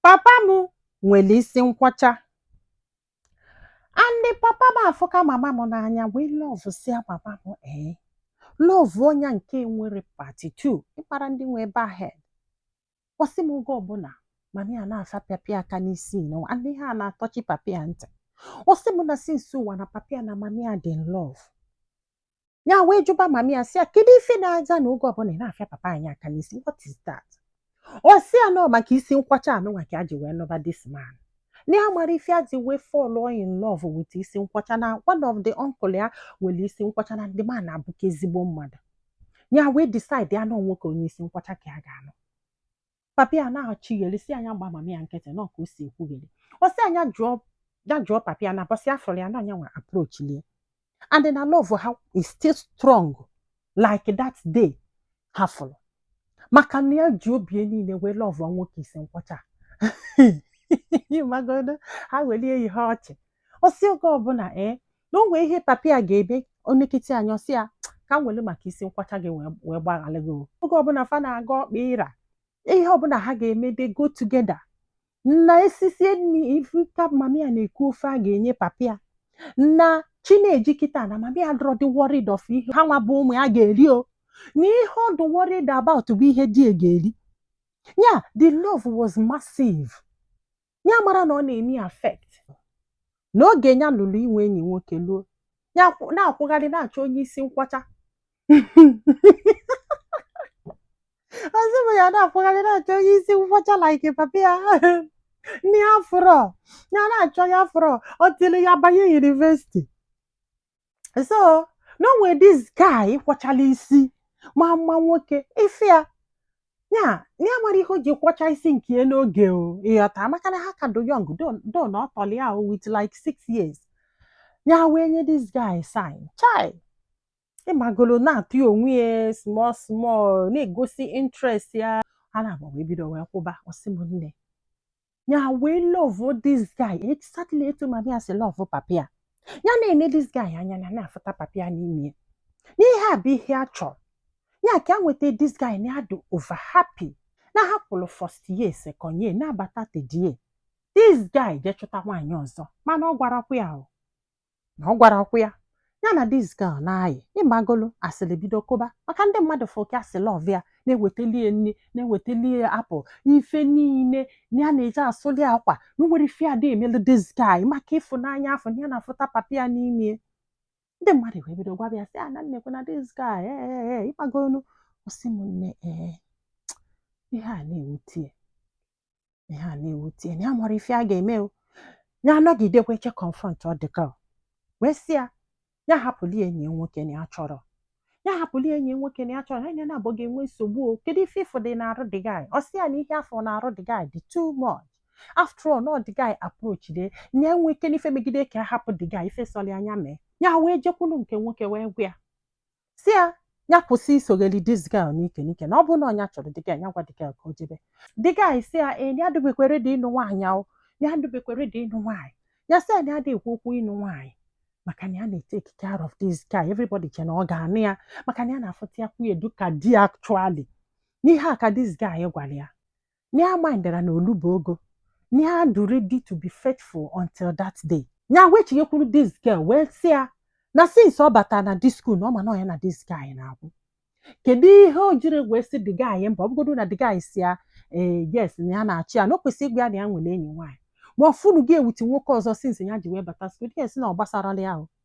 papa m nwere isi nkwọcha and papa m afụka mama m n'anya wee lọvụsịa mama m ee lọvụ onye nke nwere part two ịkpara ndị nwe bald head ọ sị m oge ọbụla mama ya na-afịa papa ya aka n'isi nụ and ihe a na-atọchi papa ya ntị ọ sị m na since ụwa na papa ya na mama ya dị in love ya wee jụba mama ya sị ya kedu ife na-aza na oge ọbụla ị na-afịa papa anyị aka n'isi what is that ọ sị ya na ọ maka isi nkwọcha anụnwa ka ya ji wee nụba this man na ya mara ife ya ji wee fall in love with isi nkwọcha na one of the uncle ya nwere isi nkwọcha na the man abụka ezigbo mmadụ ya wee decide ya na ọ nwoke onye isi nkwọcha ka ya ga-anụ papa ya na-achịgheli sị ya nya gba mama ya nkịtị na ọ ka o si ekwugheli ọ sị ya nya jụọ ya jụọ papa ya na ụbọsị ya fụrụ ya na nya nwa approach-ili ya and na love ha is still strong like that day ha fụrụ maka na ya ji obi ya niile wee love nwoke isi nkwọcha ịmagolo ha welie ihe ọchị ọ sị oge ọbụla ee na o nwee ihe papa ya ga-eme o nekiti anya ọ sị ya ka m were maka isi nkwọcha gị wee wee gbaghara gị o." oge ọbụla fa na-aga ọkpa ịra ihe ọbụla ha ga-eme they go together na e sisie nri ị fụ ka mama ya na-ekwu ofe ya ga-enye papa ya na chi na-eji kịta na mama ya adịrọ adị worried of ihe ha nwa bụ ụmụ ya ga-eri o na ihe ọ dị worried about bụ ihe di ya ga-eri ya the love was massive ya amara na ọ na-eme ya affect n'oge ya luru inwe enyi nwoke luo ya akwụ- na-akwụgharị na-achọ onye isi nkwọcha ọzọ bụ ya na-akwụgharị na-achọ onye isi nkwọcha like papa ya nne ya afụrọ ya na-achọ ya afụrọ until ya banye university so na o nwe this guy kwọchala isi ma mma nwoke ife a ya na ya amara ihe o ji kwọcha isi nke ya n'oge o ịghọta maka na ha ka dụ young though na ọ tọrọ ya o with like six years ya wee nye this guy sign chai ịmagolo na-atụ ya onwe ya small small na-egosi interest ya ha na-agba wee bido wee kwụba ọ sị m nne ya wee love this guy exactly etu mama ya si love papa ya ya na-ene this guy anya na na-afụta papa ya n'ime ya na ihe a bụ ihe ya chọrọ ya ka ya nweta this guy na-adụ over happy na ha kwụrụ first year second year na-abata third year this guy jee chọta nwaanyị ọzọ mana ọ gwarakwa ya o na ọ gwarakwa ya na ya na this girl na-ayị ịmagolo asịrị bido kụba maka ndị mmadụ fụ ka ya si love ya na-ewetali ya nri na-ewetali ya apple ife niile na ya na-eje asụli ya akwa na o nwere ife ada emelu this guy maka ịfụnanya afụ na ya na-afụta papa ya n'ime ya ndị mmadụ wee bido gwaba ya sị ya na nekwa na this guy ee ee ee ịmagolo ọ sị m nne ee ihe a na-ewute ya ihe a na-ewute na ya amarọ ife a ga-eme o ya anọgidekwa eche confrontuo the girl wee sị ya ya hapụli enyi ya nwoke na ya chọrọ ya hapụli enyi ya nwoke na ya chọrọ ha naabọ ga-enwe nsogbu o kedu ife ịfụ dị n'arụ the guy ọ sị ya na ihe a fụ n'arụ the guy dị too much after all na ọ the guy approach dị na enwe ike n'ife megide ka a hapụ the guy ife sọli ya nya mee ya wee jekwulu nke nwoke wee gwa ya si ya ya kwụsị isogheli this girl n'ike n'ike na ọ bụrụ na ọ nya chọrọ the girl ya gwa the girl ka o jebe the guy si ya ee ya adịbekwa ready ịnụ nwaanyị ahụ ya adịbekwa ready ịnụ nwaanyị ya si ya na ya adị ekwu okwu ịnụ nwaanyị maka na ya na-etake care of this guy everybody che na ọ ga-anụ ya maka na ya na-afụta ya kwuye dịka di actually n'ihe a ka this guy gwara ya na ya mindrọ na olubo ogo na ya dụ ready to be faithful until that day nya wee chighekwuru this girl wee sị ya na since ọ bata na this school na ọ ma na nya na this guy na-akwụ kedu ihe o jiri wee sị the guy mba ọ bụgodu na the guy si ya ee yes na ya na-achụ ya na o kwesịrị ịgwa ya na ya nwere enyi nwaanyị ma ọ fụnụghị ya with nwoke ọzọ since ya ji wee bata school ya sị na ọ gbasarala ya ahụ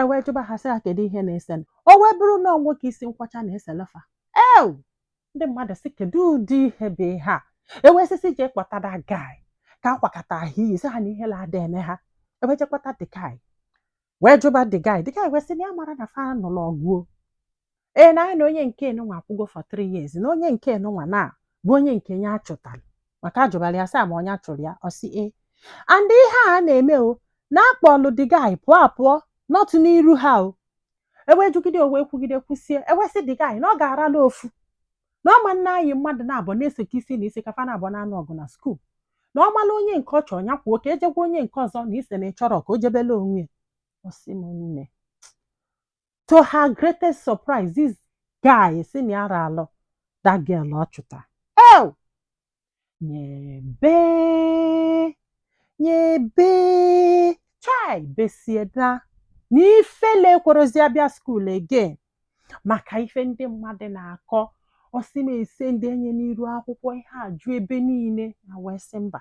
e wee jụba ha sị ha kedu ihe na-esenụ o wee bụrụ na ọ nwoke isi nkwọcha na-eselu fa ew ndị mmadụ sị kedu ụdị ihe bụ ihe a e wee sị sị jee kpọta the guy ka akwakọta ahụ iyi sị ha na ihele ada eme ha e wee jee kpọta the guy wee jụba the guy the guy wee sị na ya amarọ na fa nụlụ ọgụ o ee na nya na onye nke nwa akwụgo for three years na onye nke nwa na bụ onye nke ya achụtara maka a jụbara ya sị ma ọ nya chụrụ ya ọ sị ee and ihe a na-eme o na a kpọlụ the guy pụọ apụọ not n'iru ha o e wee jụgide o wee kwugide kwusie e wee sị the guy na ọ ga-arọlọ ofu na ọma nna anyị mmadụ naabọ na-eseka isi na isi ka fa naabọ na-anụ ọgụ na skuul na ọ mala onye nke ọ chọrọ ya kwuo ka e je gwa onye nke ọzọ na ise na ịchọrọ ka o jebele onwe ya ọ sị m nne to her greatest surprise this guy si na ya arọlụ that girl ọ chụta ew nya bee nya bee chai besie na na ifele ekwerọzi ya bịa skuul again maka ife ndị mmadụ na-akọ ọ sị m ese ndị enye n'iru akwụkwọ ihe ajụ ebe niile nya wee sị mba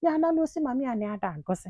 ya analụ ọ sị mummy ya na ya ada agụzi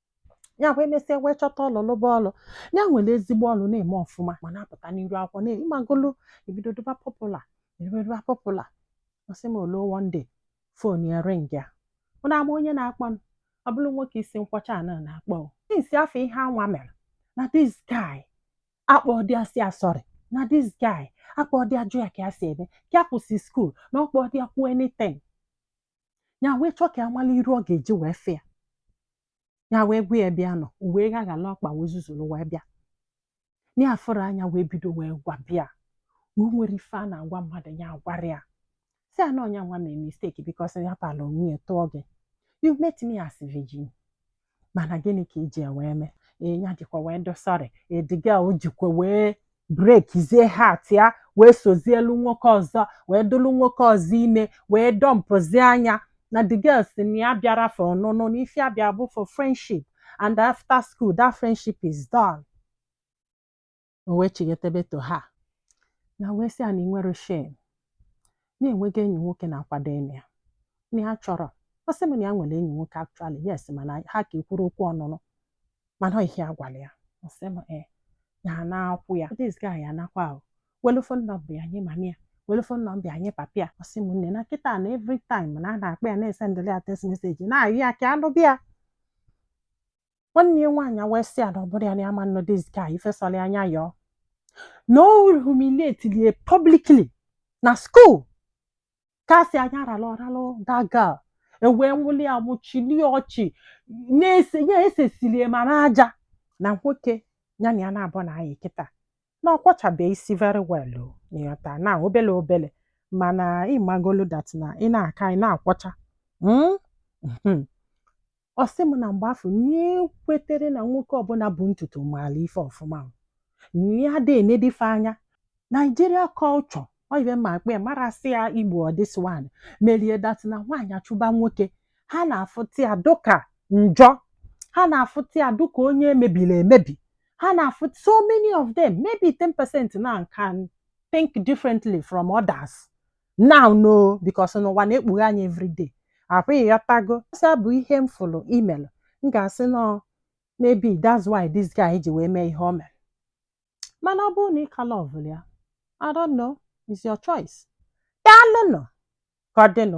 ya wee mesịa wee chọta ọlụ lụba ọlụ ya nwere ezigbo ọlụ na-eme ọfụma ma na-apụta n'iru akwụkwọ na ịmagolu ebido dụba popular ebido dụba popular ọ sị m olo one day fon ya ring ya mụ na ama onye na-akpọ m ọ bụrụ nwoke isi nkwọcha a na na-akpọ o. since afọ ihe a nwa mere na this guy akpọdị ya sị ya sorry na this guy akpọdị ya jụ ya ka ya si eme ka ya kwụsị skuul na ọ kpọdị ya kwuo anything ya wee chọọ ka ya mara iru ọ ga-eji wee fee ya ya wee gwa ya bịa nọ o wee ghaghala ọkpa wee zuzuru wee bịa ya afụrụ anya wee bido wee gwaba ya na o nwerọ ife a na-agwa mmadụ ya agwarọ ya sị ya na ọ nya nwa mee mistake because ya pala onwe ya tụọ gị you met me as virgin mana gịnị ka e ji wee mee nya jikwa wee do sorry the girl o jikwa wee breakizie heart ya wee sozielu nwoke ọzọ wee dịlụ nwoke ọzọ ime wee dumpụzie nya na the girl sị na ya abịarọ for ọnụnụ na ife ya bịara bụ for friendship and after school that friendship is done O wee chighata back to her. Nya wee sị ya na i nwerọ shame. Na ya enwego enyi nwoke na-akwado ịnụ ya. Na ya chọrọ. Ọ sị m na ya nwere enyi nwoke actually. Yes, mana ha aka ekwurọ okwu ọnụnụ. Mana ọ ihe ya gwara ya. Ọ sị m ee. Ya na-akwụ ya. This guy ya nakwa ahụ. Welu phone number ya nye mama ya. Welu phone number ya nye papa ya. Ọ sị m nne na kịta na every time na ọ na-akpọ ya na-esendiri ya text message na-ayọ ya ka ya nụba ya. nwanne ya nwaanyị wee sị ya na ọ bụrụ ya na ya ama anụ this guy ife sọrọ ya nya yọọ na o humiliatili ya publicly na school ka a sị anya ralụ ọralụ that girl e wee nwụli ya mụchilie ọchị na-ese ya esesilie ma n'aja na nwoke ya na ya na-abụ na-ayị kịta na ọ kwọchabeghị isi very well o ị ghọta na obele obele mana ị magolu that na ị na-aka ị na-akwọcha mm? Mhm. ọ sị m na mgbe afụ na-ekwetere na nwoke ọbụla bu ntutu maara ife ọfụma o. na ya dị e nedị ife anya Nigeria culture or even ma a kpọ ya mara sị ya igbo ọ this one merie that na nwaanyị achụba nwoke ha na-afụta ya dịka njọ ha na-afụta ya dịka onye e mebiri emebi ha na-afụta so many of them maybe 10 percent now can think differently from others now no because n'ụwa na-ekpughe anyị everyday I hope ị ghọtago so ọ bụ ihe m fụrụ i melụ m ga-asị na maybe that's why this guy ji wee mee ihe o mere mana ọ bụrụ na ị ka lovụrụ ya I don't know, it's your choice. Daalụnụ ka ọ dịnụ.